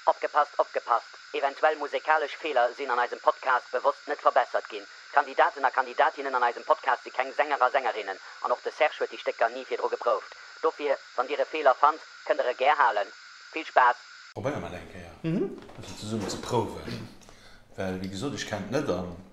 Opgepasst, opgepasst, eventuell musekalesch Feeler sinn an eisem Podcast bewosst net verbessert ginn. D'Kandidaten a Kandidatinnen an eisem Podcast si keng Sänger a Sängerinnen an och de Serge huet déi Stécker ni virdru geprouft. Dofir, wann Dir e Feeler fannt, kënnt Der e gär halen. Vill Spaass! Probéiere mer et eng Kéier, e bëssen zesummen ze prouwen, well wéi gesot, ech kennt net an.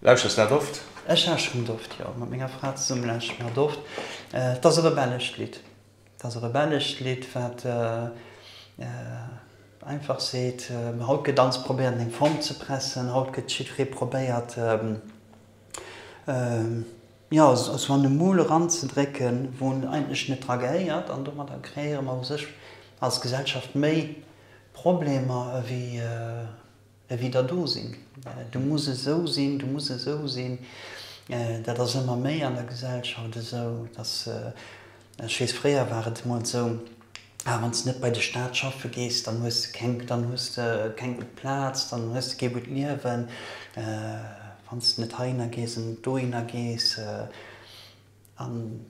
Lauschters de dat oft? Ech lauschteren et oft, jo. Mat menger Fra zesummen lauschteren mer et oft. Et ass e rebellescht Lidd. Et ass e rebellescht Lidd, wat einfach seet, haut gëtt alles probéiert an eng Form ze pressen, haut gëtt jiddweree probéiert, jo, sou an e Moule eranzedrécken, wou en eigentlech net dra gehéiert. An domadder kreéiere mer u sech als Gesellschaft méi Problemer ewéi Ewéi der do sinn, du muss esou sinn, du muss esou sinn. Dat ass ëmmer méi an der Gesellschaft esou, dass, ech weess, fréier war et emol esou, ah wann s de net bei de Staat schaffe gees, dann hues de keng, dann hues de keng gutt Plaz, dann hues de kee gutt Liewen, wann s de net heihinner gees an net dohinner gees. An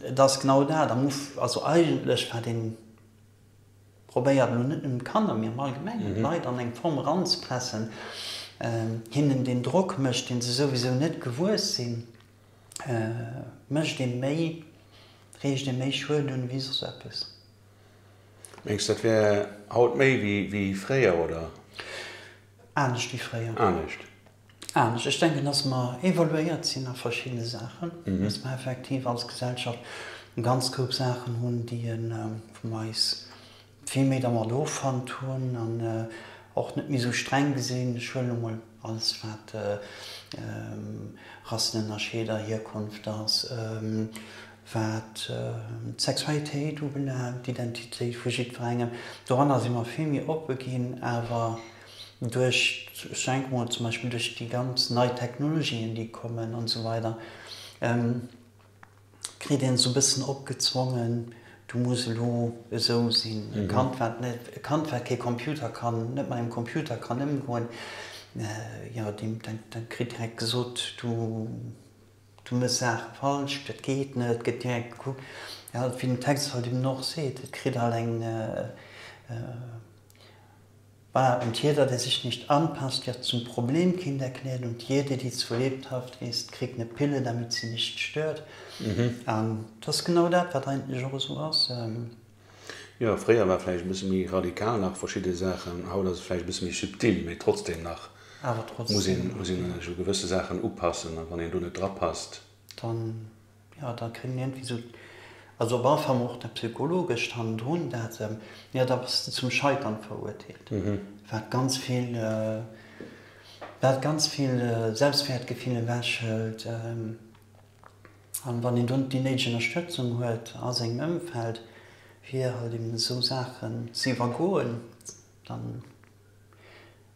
et ass genau dat am Uf-, also eigentlech war deen, Probéiert, elo net nëmmen d'Kanner, mee am Allgemengen, d'Leit an eng Form eranzepressen, hinnen deen Drock mécht, dee se souwisou net gewuess sinn, mécht ee méi, riicht ee méi Schued un ewéi soss eppes. Mengs du, dat wär haut méi wéi fréier, oder? Anescht wéi fréier. Anescht. anescht. Ech denken, dass mer évoluéiert sinn a verschiddene Saachen, dass mer effektiv als Gesellschaft e ganz Koup Saachen hunn, déi e vun eis vill méi dermat offannt hunn an och net méi esou streng gesinn. Ech huelen elo mol alles, wat Rassenënnerscheed a Hierkonft ass, wat d'Sexualitéit ubelaangt, d'Identitéit vu jiddwerengem. Doranner si mer vill méi oppe ginn, awer duerch, ech denke mol zum Beispill duerch déi ganz nei Technologien, déi kommen an esou weider, kritt een esou e bëssen opgezwongen, du muss elo esou sinn. E Kand, wat net, e Kand, wat kee Computer kann, net mat engem Computer kann ëmgoen, jo, deem, dat kritt direkt gesot, du, du méchs Saache falsch, dat geet net, et gëtt direkt gekuckt, jo, wéi den Text halt eben och seet, et kritt halt eng, Voilà, und jeder, der sich nicht anpasst, wird zum Problem, Kind erklärt, und jede, die zur Lebhaft ist, kriegt ne Pille, damit sie nicht stört. An et ass genau dat, wat eigentlech och esou ass. Jo, fréier war vläicht e bësse méi radikal nach verschidde Saachen, haut ass et vläicht e bësse méi subtil, mee trotzdem nach muss een sech u gewësse Saachen upassen a wann een do net drapasst, dann. Jo, da kritt een iergendwéi sou, also op alle Fall mol och dat Psychologëscht hannendrun, dat, jo, da bass de zum Scheitern verurteelt, wat ganz vill, wat ganz vill Selbstwäertgefill ewechhëlt. An wann een dunn déi néideg Ënnerstëtzung huet a sengem Ëmfeld, fir halt eben esou Saachen ze iwwergoen, dann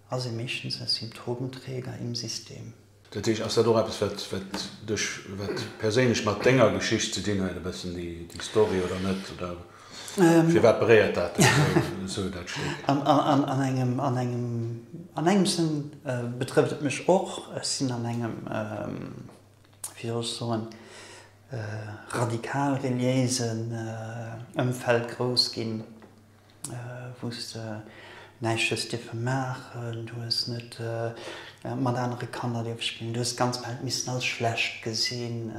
ass ee meeschtens e Symptomträger im System. Dat heescht, ass dat och eppes wat wat dech wat perséinlech mat denger Geschicht ze dinn huet e bëssen déi déi Story oder net oder firwat beréiert dat dech esou esou dat Stéck? An an an engem an engem an engem Sënn betrëfft et mech och. Ech sinn an engem wéi soll ech soen radikal reliéisen Ëmfeld grouss ginn. wous de näischt hues dierfe maachen, du hues net mat anere Kanner dierfe spillen, du hues d'ganz Welt missen als schlecht gesinn,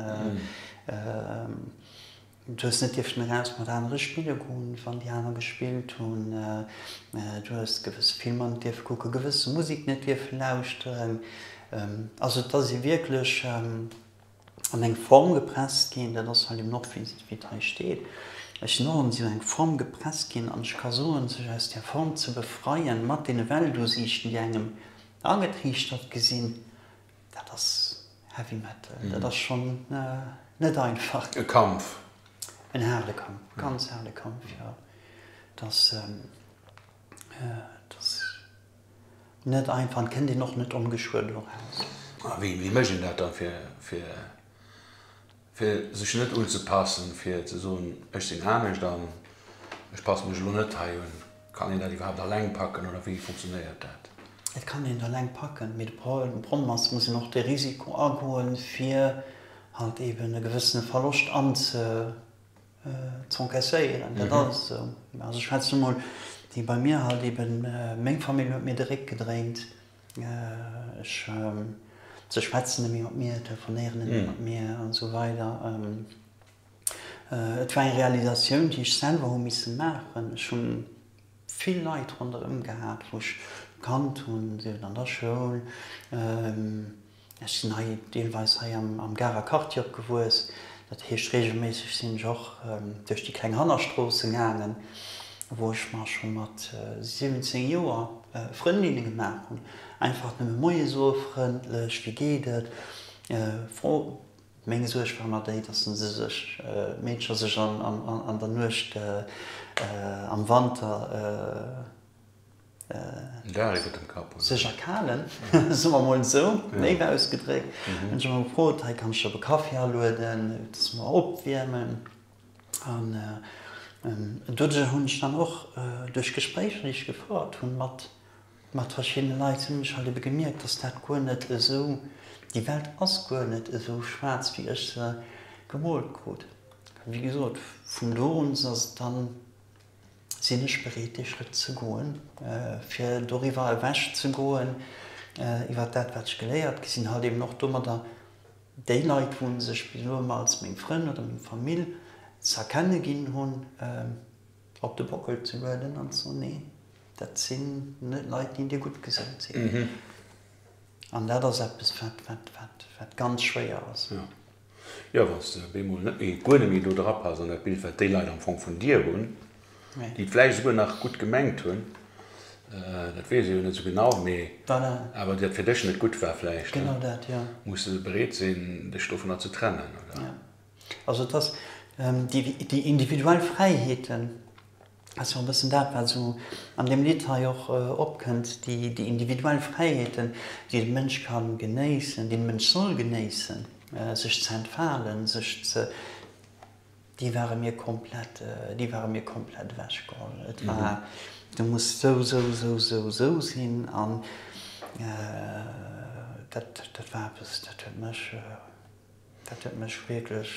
du hues net dierfen eraus mat anere spille goen, wann déi aner gespillt hunn, du hues gewësse Filmer net dierfe kucken, gewësse Musek net dierfe lauschteren. Also et ass ee wierklech. an eng Form gepresst ginn, dat ass hei dem Nord Visit wéi et hei steet, ech sinn och an esou eng Form gepresst ginn, an ech ka soen, sech aus där Form ze befreien, mat deene Weltusiichten déi engem agetriichtert gesinn, dat ass Heavy Metal, dat ass schonn net einfach. E Kampf. En haarde Kampf, e ganz haarde Kampf, jo, et ass, et ass. net einfach an kënnt een och net ongeschuer do eraus. A wéi mécht een dat da fir sech net unzepaassen, fir ze soen, ech sinn anescht an ech passe mech elo net hei un? Kann een dat iwwerhaapt alleng packen oder wéi funktionéiert dat? Et kann een et alleng packen, mee de Problem ass, et muss een och de Risiko agoen, fir halt eeben e gewëssene Verloscht anze. Z'encaisséieren, dat ass esou. Also ech schwätzen emol déi bei mir halt eben, meng Famill huet mir de Réck gedréint, ech, se schwätzen nemmi mat mir, telefonéieren nemmi mat mir an esou weider. Et war eng Realisatioun, déi ech selwer hu misse maachen. Ech hunn vill Leit ronderëm gehat, wou ech kannt hunn, sief et an der Schoul, Ech sinn hei deelweis hei am Garer Quartier opgewuess. Dat heescht, reegelméisseg sinn ech och duerch déi kleng Hannerstroossen gaangen, wou ech mer scho mat 17 Joer Frëndinne gemaach hunn. Einfach nëmme Moie soe, frëndlech, wéi geet et? Fro. Meng Suerg war ëmmer déi, dass se sech, d'Meedcher sech an der Nuecht, am Wanter, sech erkalen, soe mer emol esou, néiw ausgedréckt. Hunn ech emol gefrot, hei kann ech op e Kaffi alueden, dass mer opwiermen. An doduerch hunn ech dann och duerch Gespréicher, déi ech gefouert hunn mat verschiddene Leit, hunn ech halt ebe gemierkt, dass dat guer net esou, déi Welt ass guer net esou schwaarz, wéi ech se gemoolt krut. Wéi gesot, vun do un ass et dann. sinn ech bereet dee Schrëtt ze goen, fir doriwwer ewech ze goen, iwwer dat wat ech geléiert gi sinn, halt eben och domadder déi Leit, wou sech bis elo ëmmer als meng Frënn oder meng Famill z'erkenne ginn hunn, op de Bockel ze lueden an ze soen, nee, dat sinn net Leit, déi dir gutt gesout sinn. An dat ass eppes, wat ganz schwéier ass. Jo, wann s de op eemol net méi, guer net méi do drapasst an dat Bild, wat déi Leit am Fong vun dir hunn, déi et vläicht esouguer nach gutt gemengt hunn, dat weess ech jo net esou genau, mee awer dat fir dech net gutt war vläicht, muss de bereet sinn, dech dovunner ze trennen, oder? Also, et ass déi individuell Fräiheeten, Dat ass jo e bëssen dat, wat esou an deem Lidd hei och opkënnt, déi individuell Fräiheeten, déi de Mënsch ka genéissen, déi de Mënsch soll genéissen, sech ze entfalen, sech ze, déi ware mir komplett, déi ware mir komplett ewechgeholl. Et war, du muss esou, esou, esou, esou, esou sinn an dat, dat war eppes, dat huet mech, dat huet mech wierklech.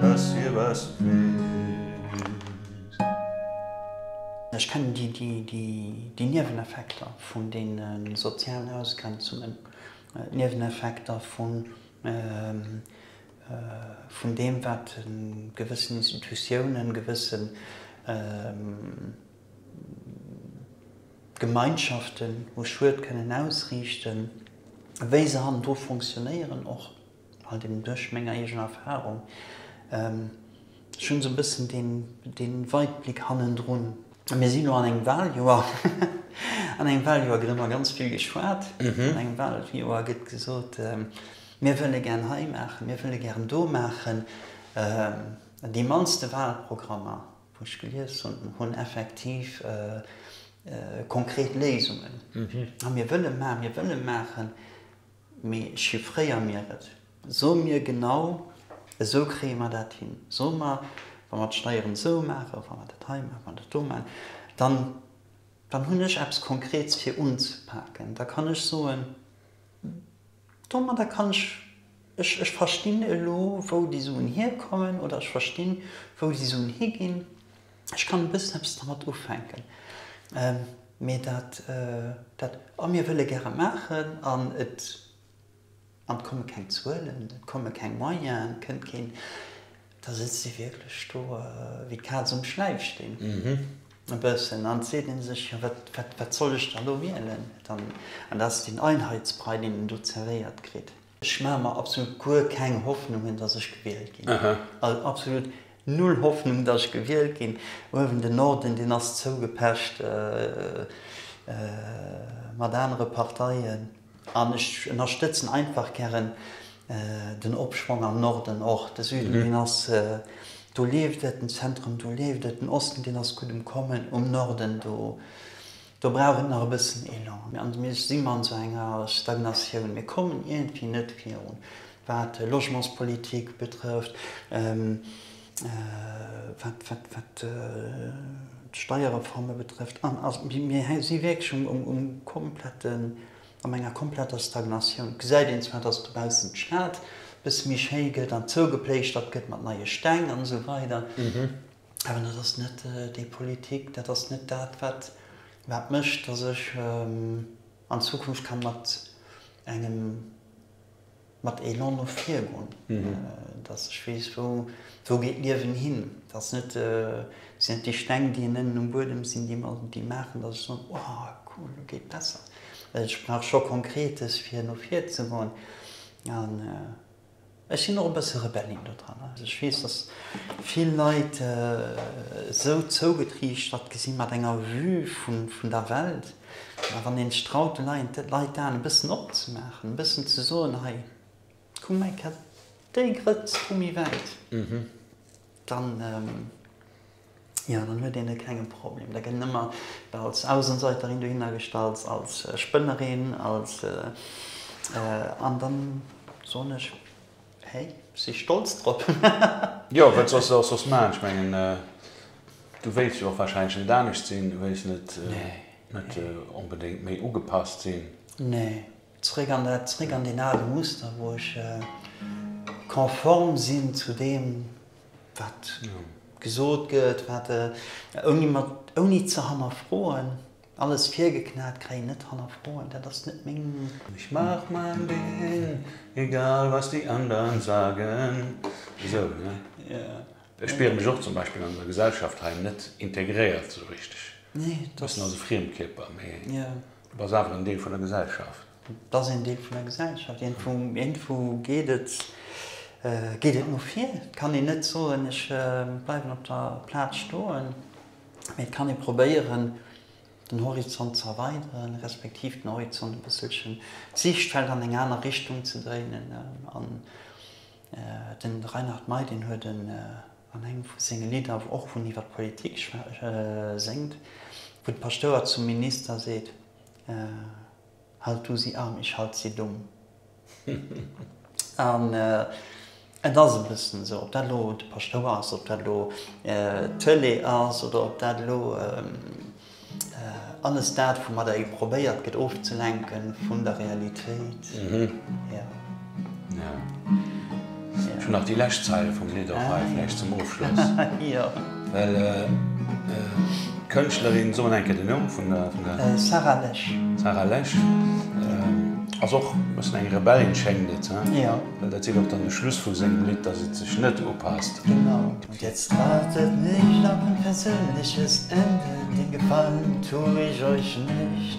dass hie was weess. Ech kennen déi Nieweneffekter vun deene sozialen Ausgrenzungen, d'Nieweneffekter vun deem, wat gewëssen Institutiounen, gewësse Gemeinschaften u Schued kënnen ausriichten, wéi se hannendru fonctionnéieren och. Halt eben duerch meng eegen Erfahrung. Ech hunn esou e bëssen dee Weitblick hannendrun. Mir sinn elo an engem Wahljoer. An engem Wahljoer gëtt ëmmer ganz vill geschwat. An engem Wahljoer gëtt gesot, Mir wëlle gären hei maachen, mir wëlle gären do maachen. Déi mannste Wahlprogrammer, wou ech gelies hunn, hunn effektiv konkret Léisungen. Mir wëlle maachen, mir wëlle maachen. Mee chiffréier mir et. So mir genau, esou kréie mer dat hin. So mer, wa mer d'Steieren esou maachen, wa mer dat hei maachen, wa mer dat do maachen, dann, dann hunn ech eppes Konkreets fir unzepaken. Da kann ech soen, domadder kann ech, ech verstinn elo, wou déi Suen hierkommen oder ech verstinn, wou déi Suen higinn. Ech kann e bëssen eppes dermat ufänken, mee dat, dat, a mir wëlle gäre maachen an et, an et komme keng Zuelen, et komme keng Moyenen, et kënnt keen, da sëtzt ee wierklech do wéi d'Kaz um Schläifsteen e bëssen an seet ee sech, jo wat, wat, wat soll ech dann elo wielen? An dat ass deen Einheitsbrei, deen een do zerwéiert kritt. Ech maache mer absolut guer keng Hoffnungen, dass ech gewielt ginn. Also absolut null Hoffnung, dass ech gewielt ginn. Uewen den Norden, deen ass zougepecht mat anere Parteien. An ech ënnerstëtzen einfach gären den Opschwong am Norden och. De Süden, deen ass, do leeft et. Den Zentrum, do leeft et. Den Osten, deen ass gutt um Kommen. Um Norden, do, Do brauch et nach e bëssen Elan. An mir si an esou enger Stagnatioun. Mir kommen iergendwéi net virun, wat d'Logementspolitik betrëfft, wat d'Steierreforme betrëfft. Mir si wierklech um kompletten, an enger kompletter Stagnatioun. Et gesäit een zwar, dass dobaussen d'Stad e bësse méi schéi gëtt an zougepléischtert gëtt mat neie Steng an esou weider. Awer dat ass net déi Politik, dat ass net dat, wat mécht, datt ech an Zukunft ka mat engem, mat Elan no vir goen, datt ech weess, wou geet d'Liewen hin. Dat si net déi Steng, déi ënnen um Buedem sinn, déi maachen, datt ech soen, oh cool, elo geet et besser. Ech brauch scho Konkretes, fir no vir ze goen. Ech sinn och e bësse Rebellin do dran. Also ech weess, datt vill Leit esou zougetriichtert gesi mat enger Vue vun der Welt. Mä wann een sech traut de Leit d'Aen e bëssen opzemaachen, e bëssen ze soen, hei kuck mei, kett déi Grëtz hu méi wäit, dann. jo, dann huet een e klenge Problem. Da gëtt een ëmmer als Außenseiterin dohinner gestallt, als Spënnerin, als, an da soen ech, hey, si stolz drop. Jo, wat soss se och soss maachen? Ech mengen, du wéilts jo och warscheinlech net anescht sinn, du wéilts net onbedéngt méi ugepasst sinn. Nee, zréck an dat, zréck an deen ale Muster, wou ech konform sinn zu deem. wat gesot gëtt, wat ouni mat ouni ze hannerfroen alles virgeknat kréien, net hannerfroen, dat ass net meng. Ech maach main Ding, egal was déi andern sagen, esou ne? Yeah. Ech spiere mech och zum Beispill an der Gesellschaft hei net integréiert esou richteg. Nee, du bass also Friemkierper, mee du bass awer en Deel vun der Gesellschaft. Et ass een Deel vun der Gesellschaft. Iergendwou geet et no vir. Et kann een net soen, ech bleiwen op der Plaz stoen, mee et kann ee probéieren, den Horizont ze erweideren, respektiv den Horizont e bësselchen, d'Siichtfeld an eng aner Richtung ze dréinen. An den Reinhard Mey, deen huet an engem vu senge Lidder, wou och vun iwwert d'Politik séngt, wou de Paschtouer zum Minister seet, Halt du si arm, ich halt si dumm. An et ass e bëssen esou, ob dat elo de Paschtouer ass, ob dat elo d'Tëlee ass oder ob dat elo alles dat, woumat der ee probéiert gëtt ofzelenke vun der Realitéit. Ech hunn nach déi lescht Zeile vum Lidd och hei, vläicht zum Ofschloss. Well d'Kënschtlerin, soen eng Kéier den Numm vun der. Sarah Lesch. Sarah Lesch ass och e bëssen eng Rebellin, schéngt et. Well dat seet och dann de Schluss vu sengem Lidd, datt et sech net upasst. Genau. Und jetzt wartet mich noch mein persönliches Ende, den Gefallen tu ich euch nicht.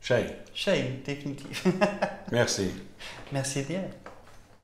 Schéin. Schéin, definitiv. Merci. Merci dir.